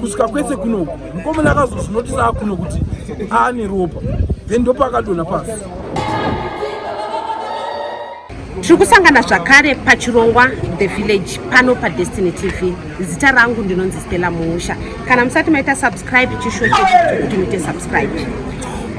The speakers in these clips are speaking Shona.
kusvika kwese kunoku mukomana akazozvinotisa akuno kuti aane ropa then ndopaakadona pasi tiri kusangana zvakare pachirongwa the village pano padestiny tv zita rangu ndinonzi stella muusha kana musati maita subscribe chisho chekuti muite subscribe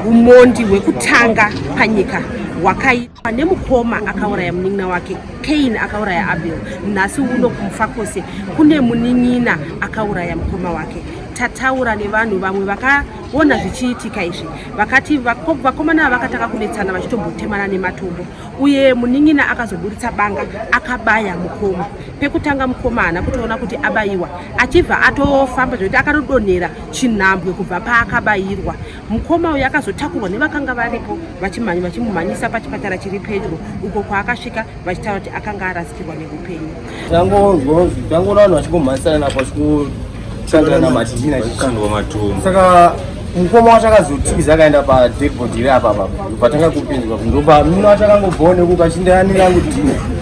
umondi hwekutanga panyika hwakaita pane mukoma akauraya munin'ina wake kain akauraya abel nhasi uno kumufakose kune munin'ina akauraya mukoma wake tataura nevanhu vamwe vakaona zvichiitika izvi vakati vakomana ava vakatanga kunetsana vachitombotemana nematombo uye munin'ina akazoburitsa banga akabaya mukoma pekutanga mukoma haana kutoona kuti abayiwa achibva atofamba zvekuti akatodonhera chinhambwe kubva paakabayirwa Mukoma uyu akazotakurwa nevakanga varipo vachimhanya vachimumhanyisa pachipatara chiri pedyo uko kwaakasvika vachitaura kuti akanga arasikirwa neupenyu. Tangonzwanzi tangoona vanhu vachingomhanyisana napo vachikutsangana namadina chikandwa matumbu. Saka mukoma wacho akazotiza akaenda padeadbody iri apa apa patanga kupinzwa ndopa mino wacho akangobvawo nekuka chindayanira kudina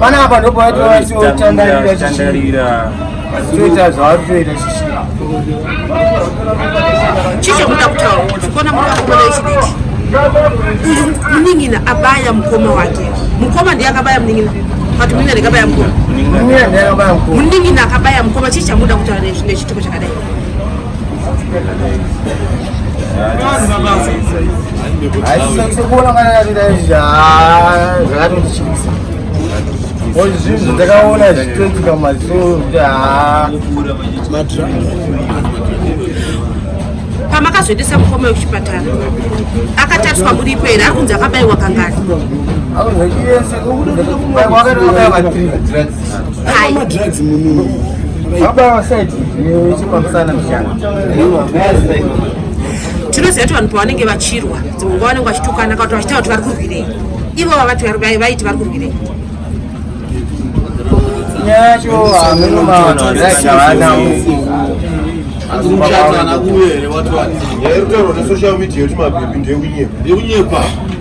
panapa ndopaitotandarira toita zvavari toita chichakuda kutaura kuti kona muri vakomana vechidiki uyu munin'ina abaya mukoma wake mukoma ndiye akabaya munin'ina but munin'ina ndikabaya mukoma munin'ina akabaya mukoma chii chamuda kutaura nezvine chituko chakadai zvinhu ndakaona zvichiitika maziso pamakazoendesa mukoma wekuchipatara akatariswa muripo here ari kunzi akabayiwa kangani tinoziva kuti vanhu pavanenge vachirwa dzimwe nguva vanenge vachitukana kana kuti vachitaura kuti vari kurwirei ivo vavati vaiti vari kurwirei yacho hameno maana azimuchatana kuwere wati wati yairutaurwa nesocial media yoti mabhebhi ndeunyeba ndeunyeba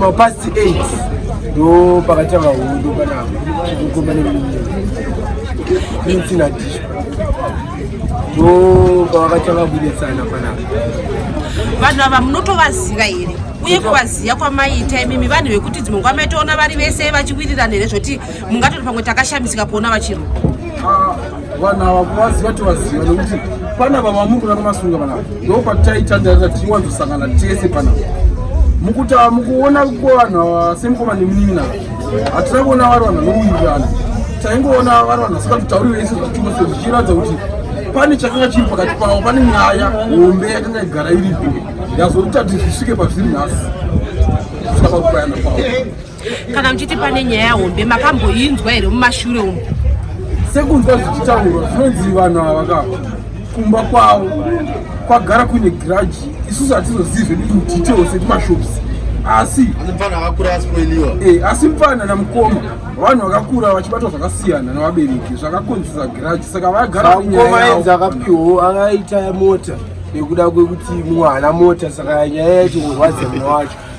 mapast 8 ndo pakatanga hondo panapa kukomba neprince nadisho ndo pavakatanga kudetsana panapa vanhu ava munotovaziva here uye kuvaziva kwamaita imimi vanhu vekuti dzimwe nguva maitoona vari vese vachiwirirana here zvoti mungatoti pamwe takashamisika kuona vachirwa ah, vanhu ava kuvaziva tovaziva nekuti pana vava muri kuda kumasunga vanava ndo pataitandarira tichiwanzosangana tese panava mukutava mukuona kuvanhu ava semukoma nemunin'ina hatina kuona vari vanhu vanouirana taingoona vari vanhu vasingati tauri vese zvachose zvichiratidza kuti pane chakanga chiri pakati pavo pane nyaya hombe yakanga igara iripo yazoti tati zvisvike pazviri nhasi zvisava kubayana kwavo kana muchiti pane nyaya hombe makamboinzwa here mumashure umu sekunzwa zvichitaurwa zvinonzi vanhu ava ka kumba kwavo kwagara kuine giraji isusu hatizozivi zvedu indetails ekumashops asi eh, asi mfana namukoma vanhu vakakura vachibatwa zvakasiyana navabereki zvakakonzesa giraji saka vagaraenzi akapiwo akaita mota nekuda kwekuti mwana mota saka nyaya yacho kurwadza mwana wacho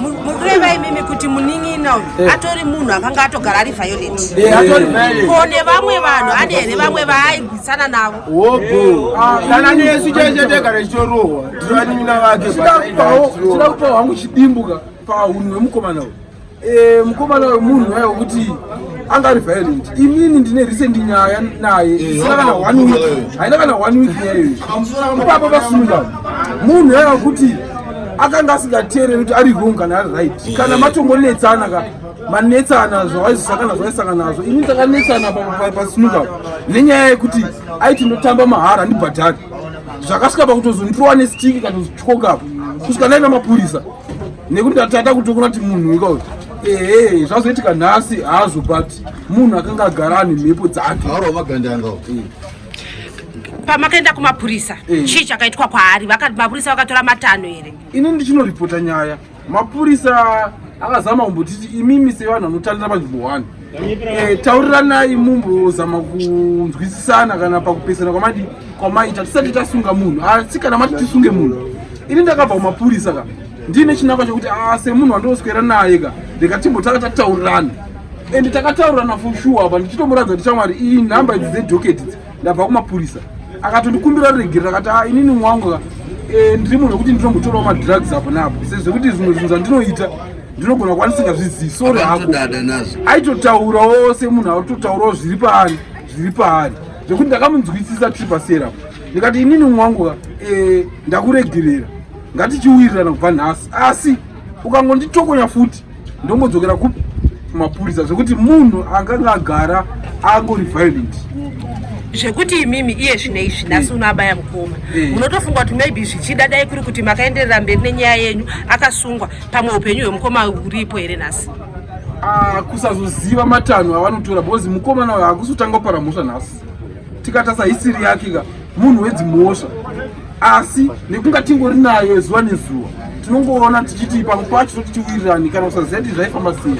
mukureva imimi kuti munin'ina uyu eh. atori munhu akanga atogara ari violent eh, eh. ko nevamwe vanhu ane here vamwe vaaigwisana navo kana ah, nesu chese tegara chitorohwa tiri vanin'ina vake chida kupawo hangu chidimbuka pahunhu hwemukomana uyu Eh, mukomana uyu munhu waye wekuti anga ari violent imini ndine recent nyaya naye eh, isina kana one week haina kana one week nyaya iyoyi ipapa pasunga munhu yaye wekuti akanga asingateereri kuti ari wrong kana ari right eh. kana matongonetsana ka manetsana zvawaizosakana zvaisangana nazvo ini takanetsana pasunga nenyaya yekuti aiti ndotamba mahara ndibhadhari zvakasvika pakutozondirowa nestiki kana zvityokapa kusvika ndaiva mapurisa nekuti ndatata kutokona kuti munhu ika uyu ehe zvazoitika nhasi hazvo but munhu akanga agara ane mhepo dzake pamakaenda kumapurisa eh. chii chakaitwa kwaari mapurisa vakatora matanho here ini ndichinoripota nyaya mapurisa akazama kumbotiti imimi sevanhu vanotanira panzvimbo one Eh, tauriranai mumbozama kunzwisisana kana pakupesana kwamadi kwamaita tisati tasunga munhu asi kana mati tisunge munhu ini ndakabva kumapurisa ka ndiine chinangwa chekuti ah, semunhu wandoswera naye ka ndikatimbotanga tataurirana and takataurirana for sure apa ndichitomuratidza kuti shamwari iyi nhamba idzi dzedhoketi idzi ndabva kumapurisa akatondikumbira regerera akati ah, inini mwangu eh, ndiri munhu wekuti ndinombotorawo madrugs apo naapo sezvekuti zvimwe zvinhu zvandinoita ndinogona kuva ndisingazvizivi sori hako aitotaurawo semunhu aitotaurawo zviri paari zviri paari zvekuti ndakamunzwisisa tiri pasera ndikati inini mwangu eh, ndakuregerera ngatichiwirirana kubva nhasi asi ukangonditokonya futi ndomodzokera kupi kumapurisa zvekuti munhu akanga agara angori violent zvekuti imimi iye zvine izvi nhasi unoabaya mukoma eh. munotofunga kuti maybe zvichida dai kuri kuti makaenderera mberi nenyaya yenyu akasungwa pamwe upenyu hwemukoma uripo here nhasi ah, kusazoziva matanho avanotora because mukomana uyo hakusi kutanga kupara mhosva nhasi tikatasa hisiri yake ka munhu wedzimhosva asi nekunga tingori nayo zuva nezuva tinongoona tichiti pamwe pacho toti tiwirirani kana kusaziva ti zvaifamba sei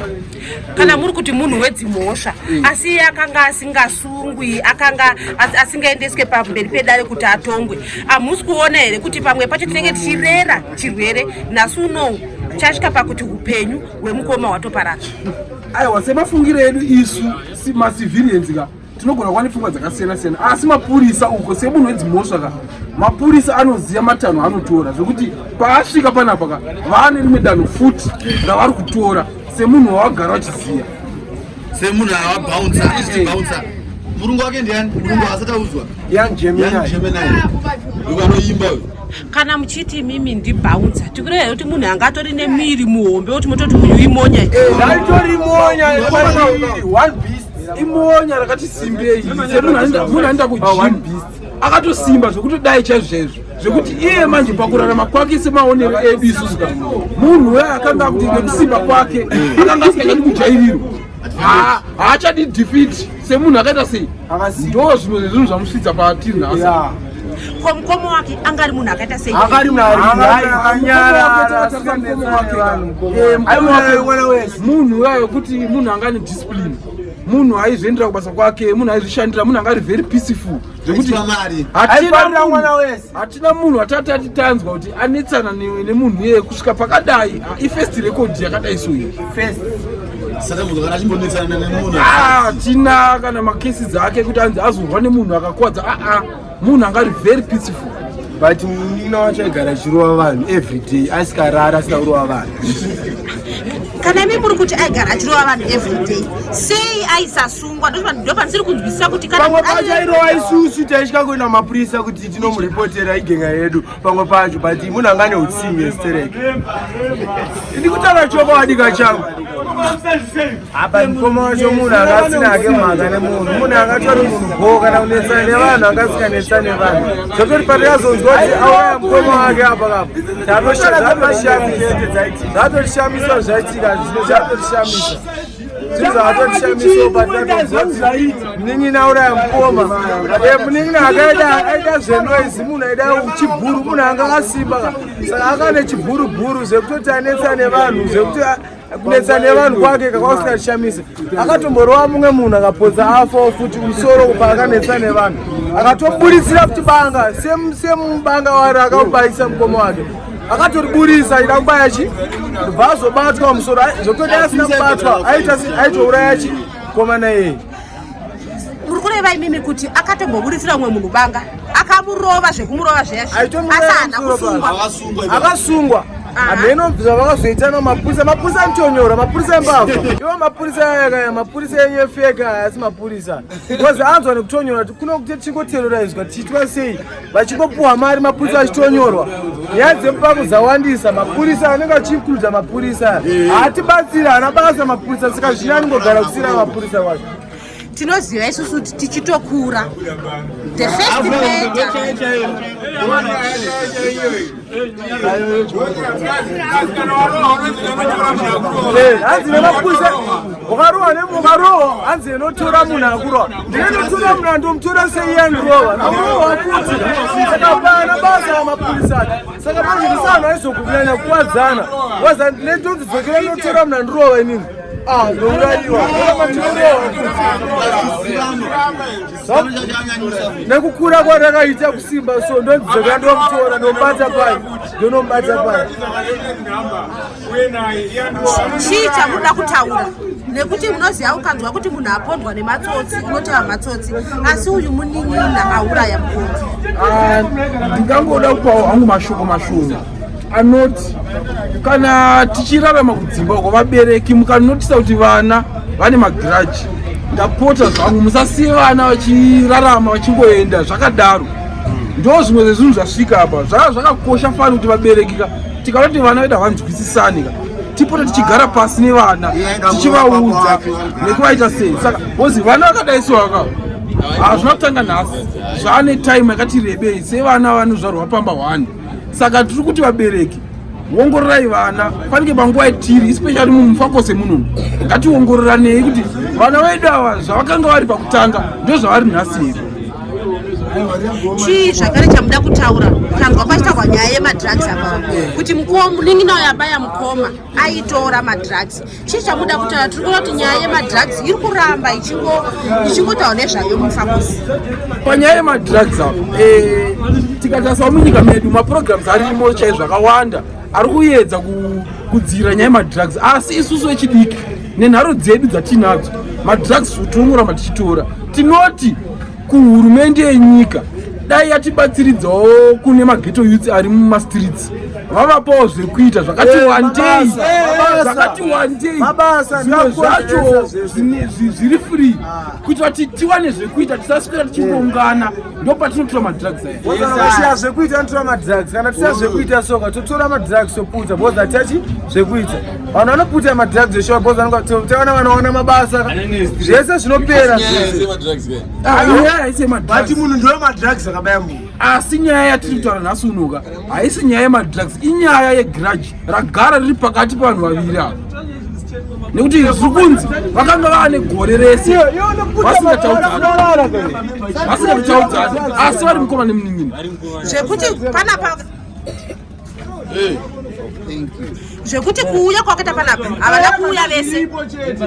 kana muri kuti munhu wedzimhosva eh. asi iye akanga asingasungwi akanga asingaendeswe pamberi pedare kuti atongwe hamusi kuona here kuti pamwe pacho tinenge tichirera chirwere nhasi unou chasvika pakuti upenyu hwemukoma hwatoparara aiwa semafungiro edu isu macivilians ka tinogona kuva nepfungwa dzakasiyana siyana asi mapurisa uko semunhu wedzimhosva ka mapurisa anoziva matanho anotora zvekuti paasvika panapa ka vaane rimwe danho futi ravari kutora semunhu wawagara vachiziva semunhu avabaunsa anoziva baunsa murungu wake ndiani murungu asati audzwa anoimba kana muchiti imimi ndibhaunza tikureva here kuti munhu anga atori nemiri muhombe woti mototi uyu imonya eh, imonya rakati simbei munhu anoenda kujim akatosimba zvekuti dai chaizvezvo zvekuti iye manje pakurarama kwake semaonero edu isusu ka munhu uya akanga akuti nekusimba kwake akanga asikachadi kujairirwa haachadi defeat semunhu akaita sei ndo zvimwe zvezvinhu zvamusvitsa patiri nhasi Kwa mkomo wake angari munhu akaita sei? Angari munhu ari akanyarara sika mkomo wake vanhu mkomo. Eh, mkomo wake wala wese. Munhu wayo kuti munhu angani discipline. Munhu aizviendera kubasa kwake, munhu aizvishandira, munhu angari very peaceful. Zvekuti hatina mwana wese. Hatina munhu atati atitanzwa kuti anetsana nemunhu iye kusvika pakadai. Ah, I first record yakadai so iyi. First. Ah, tina kana makesi dzake kuti anzi azorwa nemunhu akakwadza aa ah, ah. munhu angari very peaceful but munin'ina wacho aigara achirova vanhu every day asikarara asina kurova vanhu kana imi muri kuti aigara achirova vanhu every day sei aisasungwa ndopandisiri kunzwisisa kuti pamwe pacho airova isusu taisvika kuenda mapurisa kuti tinomuripotera igenga yedu pamwe pacho but munhu anga ane utsingi estereke ndikutaura chokwadi kachangu apa mukoma wacho munhu anga asina ake mhaka nemunhu munhu angatori munhu bho kana kunetsana nevanhu anga asikanetsana nevanhu zvotori patikazonzwa kuti auraya mukoma wake apa kapa zvatoshamisa zvaitika zvino zvatotishamisa munin'ina auraya mukoma munin'ina akaita aita zvenoizi munhu aida chibhuru munhu anga asimba saka akane chibhurubhuru zvekutoti anetsa nevanhu zvekuti kunetsa nevanhu kwake kakausingashamisa akatomborova mumwe munhu akapodza afo futi musoro kupa akanetsa nevanhu akatoburitsira kuti banga semubanga wari akamubayisa mukoma wake akatoriburisa ida kubaya chi ndobva azobatwa musoro zvokutoti asina kubatwa aitouraya chi komana iyeye muri kureva imimi kuti akatomboburitsira umwe munhu banga akamurova zvekumurova zveyaakasungwa hameno ah. zvavakazoitana mapurisa mapurisa anotonyora mapurisa embavha ivo mapurisa yakaya mapurisa enyu efeka asi mapurisa bcause anzwa nekutonyora kuno kuti tichingoteroraizwa tichitwa sei vachingopuhwa mari mapurisa achitonyorwa nyaya dzemupako dzawandisa mapurisa anenge achiinkluda mapurisa haatibatsiri haana basa mapurisa saka zvine anongogara kusira mapurisa wacho tinoziva isusu kuti tichitokura the first hanzi nemapurisa ukarohwa nemukarohwa hanzi inotora munhu akurohwa ndinotora munhu andomutora seiyandirohwa naurohwa futi saka pana basa amapurisa ati saka pazvinisa anhu aizokunyanya kukwadzana waza netonzi dzokera inotora munhu andirohwa inini ah ndouraiwa amatinorewa futi nekukura kwarakaita kusimba so ndonzeka ndomutora ndomubata pai ndonomubata pai chii chamunoda kutaura nekuti unoziva ukanzwa kuti munhu apondwa nematsotsi unotaura matsotsi asi uyu munin'ina auraya mukoti ah, ndingangoda kupawo hangu mashoko mashoma anoti kana tichirarama kudzimba uko vabereki mukanotisa kuti vana vane magiraji ndapota zvangu musasiye vana vachirarama vachingoenda zvakadaro ndo zvimwe zvezvinhu zvasvika apa zvaa zvakakosha fani kuti vaberekika tikanoti vana vedu havanzwisisanika tipote tichigara pasi nevana tichivaudza nekuvaita sei saka ozi vana vakadai so vaka hazvina kutanga nhasi zvaane time yakati rebei sevana vanozvarwa pamba hwani saka tiri kuti vabereki wongororai vana fanike panguva yatiri especially mumufakose muno ngationgororanei kuti vana vedu ava zvavakanga vari pakutanga ndo zvavari nhasi here chii zvakare chamuda kutaura tanzwa pachitaurwa nyaya yemadrugs apa kuti mukoma munin'ina uyo abaya mukoma aitora madrugs chii chamuda kutaura tiri kuona kuti nyaya yemadrugs iri kuramba ichingotaura nezvayo mufakosi panyaya yemadrugs apo eh, tikatasawo munyika medu maprograms arimo chaizvo zvakawanda ari kuyedza kudzira nyaya yemadrugs asi isusu vechidiki nenharo dzedu dzatiinadzo madrugs tinonoramba tichitora tinoti kuhurumende yenyika dai yatibatsiridzawo kune mageto youth ari mumastreets vavapawo zvekuita zvakati eh, wandei zvakati wandei zvimwe zvacho zviri free ah. kuitira kuti tiwane zvekuita tisaswera tichingongana eh. ndo patinotora madrugs ayasiya zvekuita anotora madrugs kana tisiya zvekuita soka totora madrugs toputa bozatiachi zvekuita vanhu vanoputa madrugs zveshuwa bcause vanotevana vanoona mabasa zvese zvinopera but munhu ndiwo madrugs akabaya munhu asi nyaya yatiri kutaura nhasi unoka haisi nyaya yemadrugs inyaya yegrudge ragara riri pakati pavanhu vaviri ava nekuti zviri kunzi vakanga vaane gore rese vasingataudzani asi vari mukoma nemunin'ina zvekuti panapa zvekuti kuuya kwakaita panapa havana kuuya vese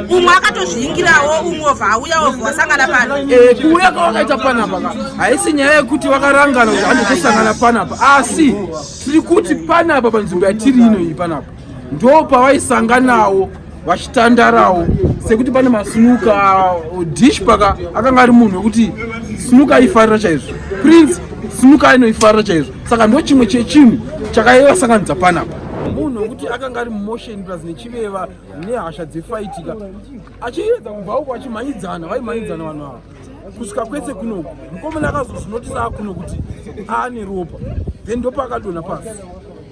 umwe akatozviingirawo umwe ovha auya ovha wasangana pano eh, kuuya kwavakaita panapa ka haisi nyaya yekuti vakarangana kuti anditosangana panapa asi tiri kuti panapa panzvimbo yatiri ino iyi panapa ndo pavaisanganawo vachitandarawo sekuti pane masunuka uh, dish paka akanga ari munhu wekuti sunuka aifarira chaizvo prince sunuka ainoifarira chaizvo saka ndo chimwe chechinhu chakaivasanganidza panapa munhu wekuti akanga ari mumotion plus nechiveva nehasha dzefaitika achiedza kubva uko achimhanyidzana vaimhanyidzana vanhu ava kusvika kwese kunoku mukomana akazozvinotisa akuno kuti aane ropa then ndopaakadona pasi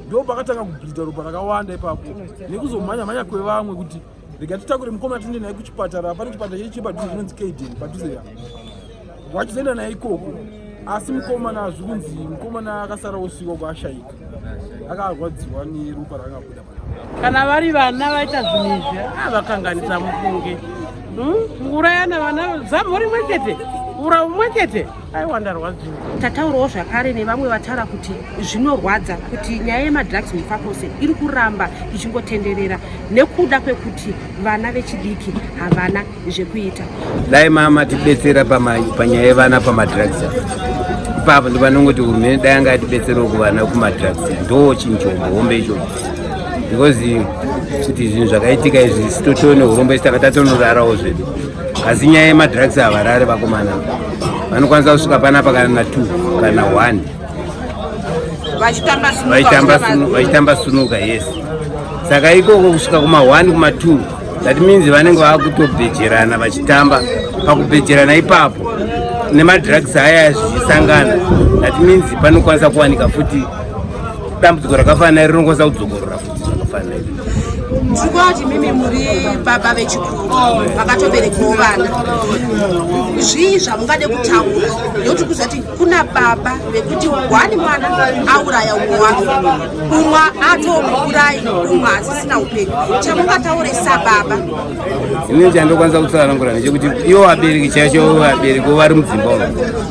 ndo pakatanga kubhidha ropa rakawanda ipapo nekuzomhanya mhanya kwevamwe kuti rega titakure mukomana tiende naye kuchipatara pane chipatara chedu chiri padhuze chinonzi kaden padhuze ya wachizoenda naye ikoko asi mukomana zvikunzi mukomana akasara osvika kwaashaika akarwadziwa neropa raangabuda kana vari vana vaita zvinhu izvi ah, vakanganisa mufunge hmm? ngurayana vana zamho rimwe chete ura umwe chete aiwa ndarwadziwa tataurawo zvakare nevamwe vataura kuti zvinorwadza kuti nyaya yemadrugs mufakose iri kuramba ichingotenderera nekuda kwekuti vana vechidiki havana zvekuita dai mama tibetsera panyaya yevana pamadrugs ipapo ndipanongoti hurumende dai anga atibetserawo kuvana kumadrugs ndo chinjombo hombe icho because kuti zvinhu zvakaitika izvi sitotoone hurombo isi tanga tatonorarawo zvedu asi nyaya yemadrugs havarare vakomana vanokwanisa kusvika panapa kana t kana one vachitamba sunuka yes saka ikoko kusvika kuma one kuma two that means vanenge vakutobhejerana vachitamba pakubhejerana ipapo nemadrugs aya zvichisangana that means panokwanisa kuwanika futi dambudziko rakafanira rinokwanisa kudzokorora futi zvakafanira tiri kuva kuti mimi muri baba vechikuru vakatoberekewo vana zvii zvamungade kutaura ndokuti kuzati kuna baba vekuti wani mwana auraya umwe wake umwe atomuurayi umwe asisina upenyu chamungataure sababa ini chandokwanisa kutsanangura nechekuti iwo vabereki chacho vabereki wo vari mudzimba umo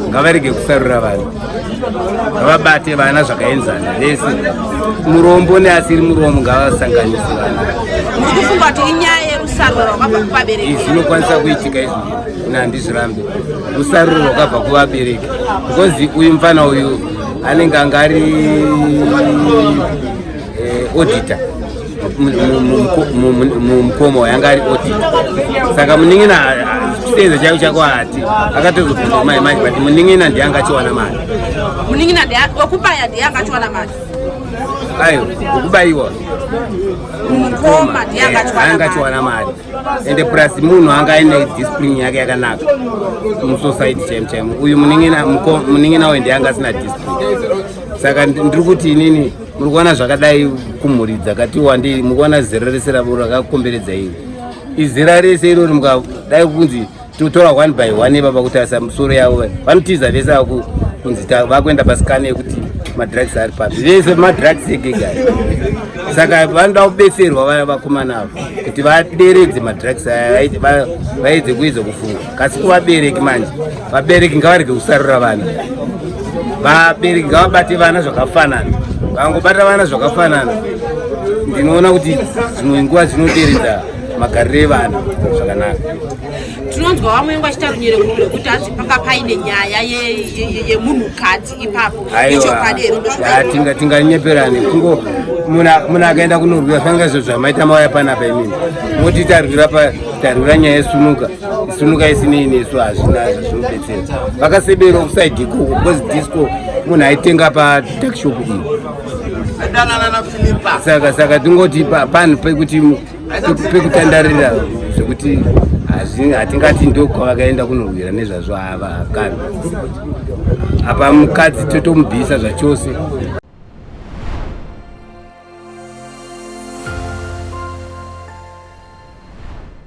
ngavarege kusarura vanhu ngavabate vana zvakaenzana vese murombo neasiri murombo ngavasanganise vana muri kufunga kuti inyaya yerusaruro rwakabva kuvabereki izvinokwanisa kuitika izvi nandizvirambe usaruro hwakabva kuvabereki because uyu mfana uyu anenge anga ari eh, auditor mumukoma uyu anga ari auditor saka munin'ina chisenza chaivo chako hati akatozobvunza mai manje but munin'ina ndiye anga achiwana mari munin'ina wekubaya ndiye anga achiwana mari ayo wekubaiwa mukoma ndiye anga achiwana mari ende plus munhu anga aine discipline yake yakanaka musociety chaimo chaimo uyu munin'ina uyu ndiye anga asina discipline saka ndiri kuti inini muri kuona zvakadai kumhuri dzakati wandei mukuona zera rese rakakomberedza iri izera rese irori mukadai kunzi totora one by one ivava kutarisa musoro yavo vanotiza vese aku kunzi vakuenda pasikana yekuti madrugs ari papi vese madrugs egega saka vanoda kubetserwa vaya vakomana avo kuti vaderedze madrugs aya vaedze kuedza kufunga kasi kuvabereki manje vabereki ngavarege kusarura vana vabereki ngavabate vana zvakafanana vangobata vana zvakafanana ndinoona kuti zvimwe nguva zvinoderedza magariro evanhu zvakanaka tinonzwa vamwe vengu vachita runyere kure kuti hanzi panga paine nyaya yemunhukadzi ipapo ichokwadi here tinganyeperani kungo munhu akaenda kunorwira fanga izvo zvamaita mauya panapa imini moti tarwira pa tarwira nyaya yesunuka sunuka isinini isu hazvina zvinobetsera vakasebera kusaidiko because disco munhu aitenga patakshop iyi saka saka tingoti panhu pekuti pekutandarira zvekuti hatingati ndokwavakaenda kunorwira nezvazvo ava kana apa mukadzi totomubvisa zvachose